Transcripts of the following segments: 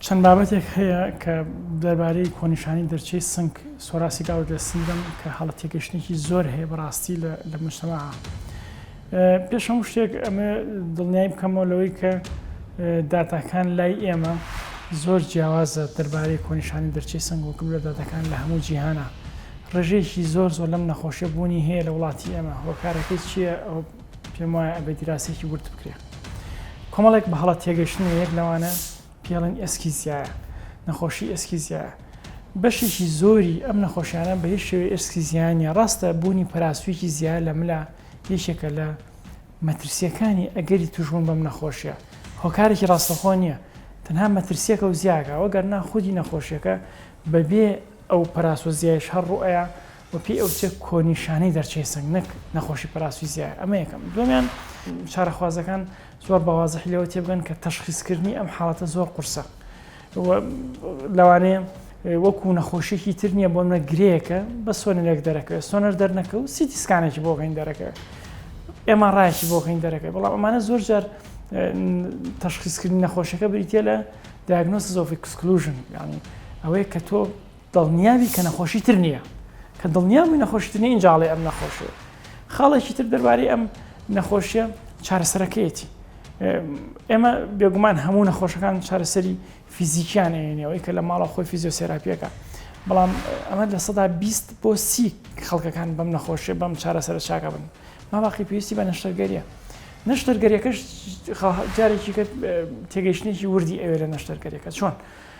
چەند بابەتێک هەیە کە دەربارەی کۆنیشانی دەرچەی سنگ سۆراسی گاوت لە سنگم کە هەڵە تێگەشتێکی زۆر هەیە بەڕاستی لە مشتەما پێش هەموو شتێک ئەمە دڵنیای بکەمەوە لەوەی کە داتاکان لای ئێمە زۆر جیاوازە دەربارەی کۆنیشانی دەرچەی سنگ وکم لە داتەکان لە هەموو جیهانە ڕژێکی زۆر زۆر لەم نەخۆشیە بوونی هەیە لە وڵاتی ئێمە هۆکارەکەی چییە پێم وایە ئەبێ دیراسێکی ورد بکرێ کۆمەڵێک بە هەڵە تێگەشتن یەک لەوانە پێڵنگ ئێسکیزیایە نەخۆشی ئێسکیزیایە بەشێکی زۆری ئەم نەخۆشیانە بە هیچ شێوی ئێسکی زیانە ڕاستە بوونی پراسوێکی زیاد لە ملا یەکێکە لە مەترسیەکانی ئەگەری توشبوون بەم نەخۆشیە هۆکارێکی ڕاستەخۆ نییە تەنها مەترسیەکە و زیاکە وەگەر ناخودی نەخۆشیەکە بەبێ ئەو پراسۆ زیایش هەر ڕوئەیە و پێی ئەوترێت کۆنیشانەی دەرچەی سنگ نەک نەخۆشی پەراسویزیایە ئەمە یەکەم دووەمیان چارەخوازەکان زۆر بەوازحی لەوە تێبگەن کە تەشخیسکردنی ئەم حاڵەتە زۆر قورسە لەوانەیە وەکو نەخۆشیێکی تر نییە بۆمە گرەیەکە بە سۆنەرێک دەرەکەوێت سۆنەر دەرنەکە و سیتی سکانێکی بۆکەین دەرەکەوێت ئێمە ڕایکی بۆکەین دەرەکە بەڵام ئەمانە زۆر جار تەشخیسکردنی نەخۆشەکە بریتە لە دیاگنۆس زۆفی کسکلوژن ینی ئەوەیە کە تۆ دڵنیابی کە نەخۆشی تر نیە کە دڵنیا بووی نەخۆشی تر نیە ئینجا ئەڵێی ئەم نەخۆشیە خاڵێکی تر دەربارەی ئەم نەخۆشیە چارەسەرەکەیەتی ئێمە بێگومان هەموو نەخۆشەکان چارەسەری فیزیکیان ئەێنەوەی کە لە ماڵە خۆی فیزیۆسێراپیەکە بەڵام ئەمە لە سەدا بیست بۆ سی خەڵکەکان بەم نەخۆشیە بەم چارەسەر چاکە بن ماباقی پێویستی بە نەشتەرگەریە نەشتەرگەریەکەش جارێکی کرد تێگەیشتێکی وردی ئەوێ لە نەشتەرگەریەکە چۆن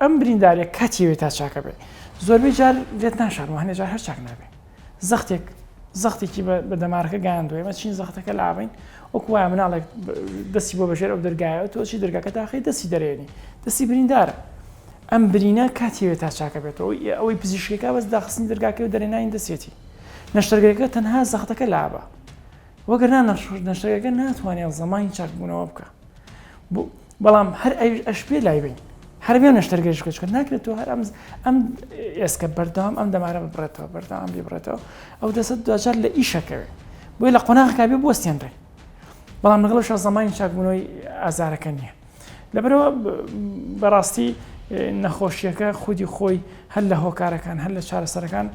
ئەم برینداریە کاتی وێ تا چاکە بێ زۆربەی جار لێت ناشارم هەنێ جار هەر چاک نابێ زەختێک زەختێکی بە دەمارەکە گەیاندوێ مە چین زەختەکە لاڕین وەکو وایە مناڵێک دەستی بۆ بەژێر ئەو دەرگایە تۆچی دەرگاکە تاخی دەستی دەرێنی دەستی بریندارە ئەم برینە کاتیوێت تا چاکە بێتەوە ئەوەی پزیشکەکە بەس داخستنی دەرگاکە و دەرێنانی دەسێتی نەشتەرگەکە تەنها زەختەکە لابە وەگەرنا نەشتەرگەکە ناتوانێت زەمانی چاکبوونەوە بکە بەڵام هەر ئەویش ئەشبێ لای بین هەر بێ نەشتەرگەریش بکە چکە ناکرێت تۆ هەر ئەم ئەم ئێسکە بەردەوام ئەم دەمارە ببڕێتەوە بەردەوام ببڕێتەوە ئەو دەسە دوجار لە ئیشەکەوێت بۆی لە قۆناغەکە بێ بستێنرێ بەڵام لەگەڵ شە زمانی چاکبوونەوەی ئازارەکە نییە لەبەرەوە بەڕاستی نەخۆشیەکە خودی خۆی هەر لە هۆکارەکان هەر لە چارەسەرەکان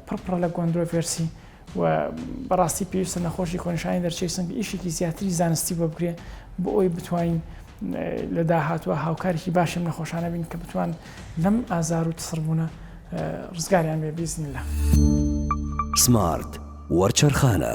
پڕپڕە لە گۆندرۆڤێرسی و بەڕاستی پێویستە نەخۆشی کۆنیشانی دەرچەی سنگ ئیشێکی زیاتری زانستی بۆ بکرێ بۆ ئەوی بتوانین لە داهاتوە هاوکارێکی باشم نەخۆشانە بین کە بتوان لەم ئازار و تسڕبوونە ڕزگاریان بێ بیزنی لە سمارت وەرچەرخانە.